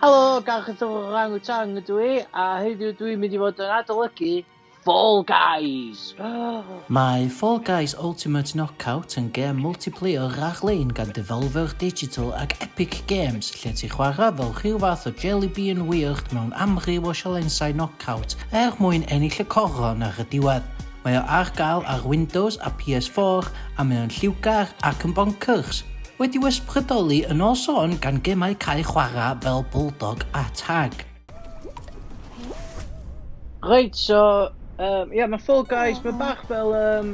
Helo, Gareth o'r Orang Utang ydw i, a heddiw dwi'n mynd i fod yn adolygu Fall Guys! Mae Fall Guys Ultimate Knockout yn gêm multiplayer rhag-lein gan Devolver Digital ac Epic Games, lle ti'n chwarae fel rhyw fath o jelly bean weird mewn amryw o sialensau knockout er mwyn ennill y coron ar y diwedd. Mae o ar gael ar Windows a PS4 a mae o'n lliwgar ac yn boncyrs. Wedi'w ysbrydoli yn ôl sôn gan gemau cae chwarae fel Bulldog a Tag. Reit so um, yeah, mae Fall Guys, mae bach fel um,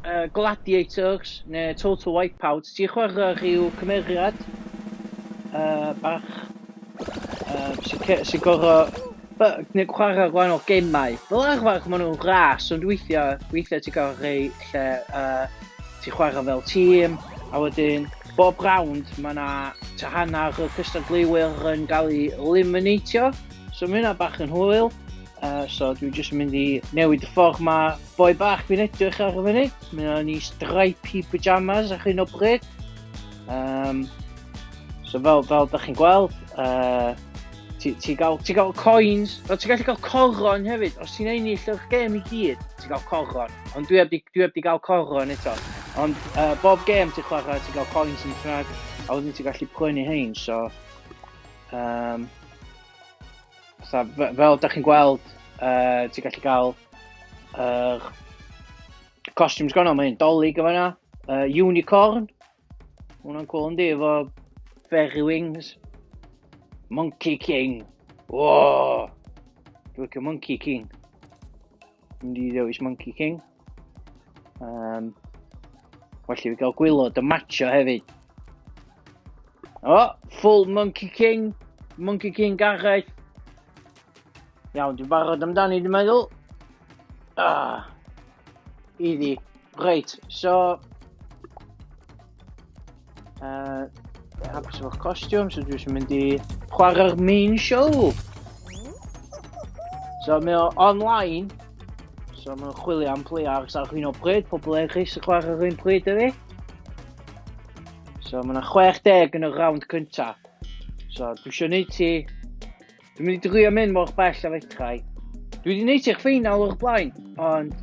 uh, Gladiators neu Total Wipeout. Ti'n chwarae rhyw cymeriad uh, bach Yy, sy'n sy gorau... Gwneud chwarae gwahanol gemau. Fel arfer, maen nhw'n ras, ond weithiau, weithiau ti'n cael rhai lle uh, ti'n chwarae fel tîm, a wedyn bob round mae yna ta hanner y cystadleuwyr yn cael ei eliminatio, so mae hynna bach yn hwyl. Uh, so dwi'n jyst yn mynd i newid y ffordd mae boi bach fi'n edrych ar y funud. Mae o'n i stripy pyjamas ar hyn o bryd. Um, So fel, fel da chi'n gweld, uh, ti, ti, gael, ti gael coins, o, ti gallu cael coron hefyd, os ti'n ennill o'r gêm i gyd, ti gael coron. Ond dwi heb dwi heb di gael coron eto. Ond uh, bob gêm ti'n chwarae, ti gael coins yn y ffrag, a wedyn ti'n gallu prynu hein, so... Um, so fel da chi'n gweld, uh, ti'n gallu cael uh, costumes gwahanol, mae hyn dolyg yma yna, uh, unicorn, Hwna'n cool yn di efo fairy wings. Monkey King. Whoa! Dwi'n licio Monkey King. Dwi'n di ddewis Monkey King. Um, well i fi gael gwylod y matcho hefyd. O, oh, full Monkey King. Monkey King Gareth. Iawn, dwi'n barod amdani, dwi'n meddwl. Ah, easy. Reit, so... Uh, hapus efo'r costiwm, so dwi'n mynd i chwarae'r main show. So mae o online, so mae'n chwilio am players ar hyn o bryd, pobl eraill sy'n chwarae ar hyn pryd ydy. So mae yna 60 yn y round cyntaf. So dwi eisiau gwneud ti Dwi'n mynd i drio mynd mor bell a fedrai. Dwi wedi neud i'r ffeinal o'r blaen, ond...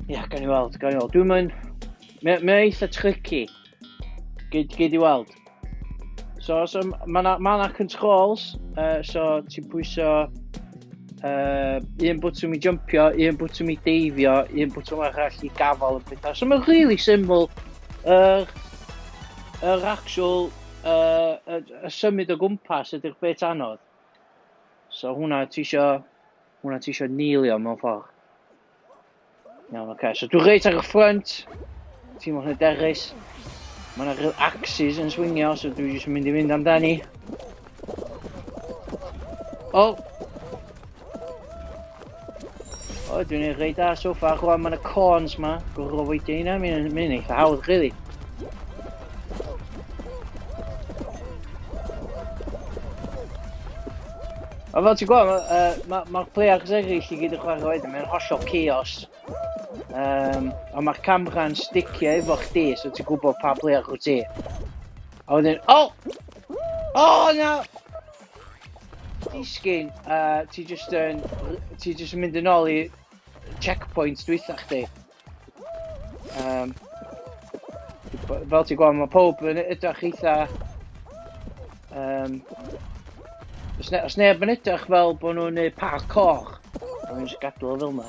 Ia, yeah, gan i weld, gan i weld. Dwi'n mynd... Mae'n ma eitha tricky. Gyd, gyd i weld. So, so mae yna ma controls, uh, so ti'n pwyso uh, un bwtwm i jumpio, un bwtwm i deifio, un bwtwm arall i gafael yn pethau. So mae'n really syml. Yr, er, er actual yy y y symud o gwmpas ydi'r bit anodd. So hwnna ti isio hwnna ti isio neilio mewn ffordd. Iawn, oce. Okay. So dwi reit ar y ffrynt. Ti'n mwyn hyderus. Mae yna rhyw axes yn swingio, so dwi jyst yn mynd i fynd amdani. Oh! O, dwi'n ei rhaid da so far. Rwan, mae'n y corns ma. Gwrw fwydio hynna, mae'n ei eitha hawdd, really. A fel ti'n gweld, mae'r uh, ma, ma players eraill i gyd yn chwarae wedyn, mae'n hollol chaos. Um, a mae'r camera'n sticio efo chdi, so ti'n gwybod pa player chw ti. A wedyn, o! Oh! O, oh, na! Disgyn, a ti just yn... Ti just yn mynd yn ôl i checkpoint dwytha chdi. Um, fel ti'n gweld, mae pob yn edrych eitha... Um, os, ne, os neb yn edrych fel bod nhw'n neud parkour, mae'n just gadw fel yna.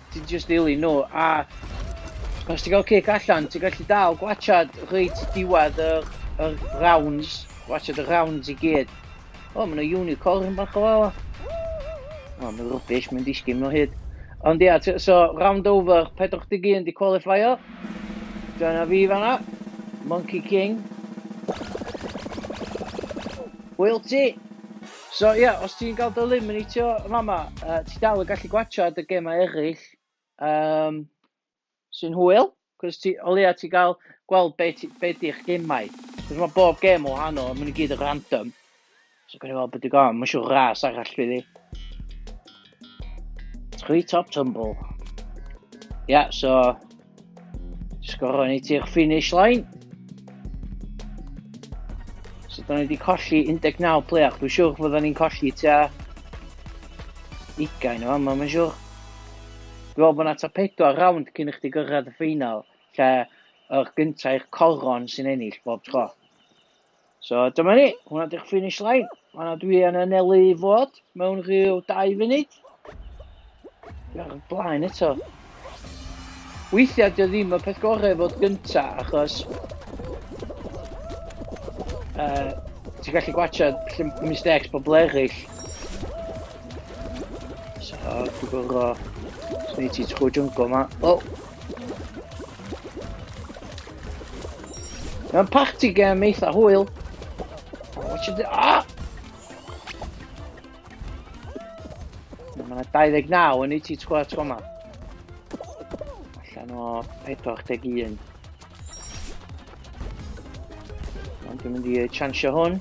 Ti'n just ddilyn nhw, a os ti'n cael cic allan, ti'n gallu dal gwachad reit i diwedd y, y rounds, gwachad y rounds i gyd. O, mae yna unicorn bach o fawr. O, mae'n rubbish, mae'n disgyn mewn hyd. Ond ia, yeah, so round over, 41 di qualifier. Dyna fi fanna. Monkey King. Hwyl ti! So ie, os ti'n gael dy eliminatio yn fama, uh, ti dal yn gallu gwachad y gemau eraill um, sy'n hwyl, cos ti, o leia ti gael gweld be, ti, be di'ch gemau. Cos mae bob gem o hanno, mae'n gyd yn random. So gwneud fel beth i gael, mae'n siŵr ras arall fydd i. Three top tumble. Yeah, so sgoro ni ti'r finish line. So da ni wedi colli 19 player. Dwi'n siwr fod ni'n colli tua 20 o yma, mae'n siwr. Dwi'n meddwl bod yna ta 4 round cyn i chdi gyrraedd y ffeinal, lle yr gyntaf i'r coron sy'n ennill bob tro. So dyma ni, hwnna di'ch finish line. Hwnna dwi yn anelu i fod mewn rhyw dau funud. Ar y blaen eto. Weithiau dio ddim y peth gorau fod gynta achos uh, ti'n gallu gwachio mistakes pobl eraill. So, dwi'n gorfod... Swn i ti trwy jungle ma. Oh! Mae'n party game eitha hwyl. Watch it... Ah! Mae 29 yn ei ti tgwa tgwa ma. Allan o 41. Ond dwi'n mynd i chansio hwn.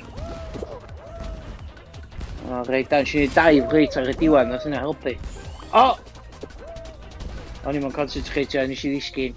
O, reit, dan, sy'n ei daif reit ar y diwedd, nath yna helpu. O! O'n i'n concentrate, nes i ddisgyn.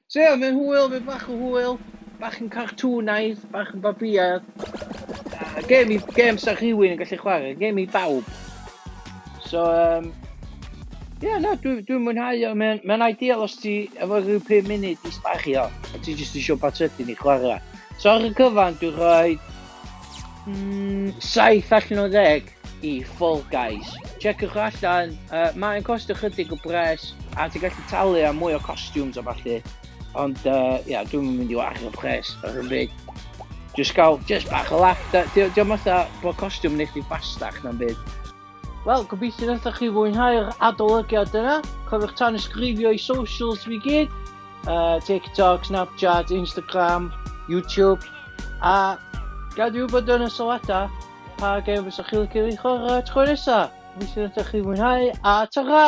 So ie, mae'n hwyl, mae bach o hwyl, bach yn cartŵnaidd, bach yn babiaidd. A gêm i, gêm sa rhywun yn gallu chwarae, gêm i bawb. So, um, ie, yeah, na, dwi'n dwi mwynhau o, mae'n ma ideal os ti efo rhyw 5 munud i sbario, a ti jyst eisiau bat ydyn i chwarae. So ar y cyfan, dwi'n rhoi mm, 7 allan o 10. i Fall Guys. Checiwch allan, uh, mae'n cost ychydig o bres, a ti'n gallu talu am mwy o costumes a falle. Ond, ia, uh, yeah, dwi'n mynd i wario pres ar hyn byd. Just gael, just bach o laff. Diolch yn fatha bod costiwm nes i bastach na'n byd. Wel, gobeithio wnaethoch chi fwynhau'r adolygiad yna. Cofiwch tan ysgrifio i socials fi gyd. Uh, TikTok, Snapchat, Instagram, YouTube. A gadw bod yn y sylwadau. Pa gêm fysech chi licio fi chwarae tro nesa? Gobeithio nathoch chi fwynhau a tara!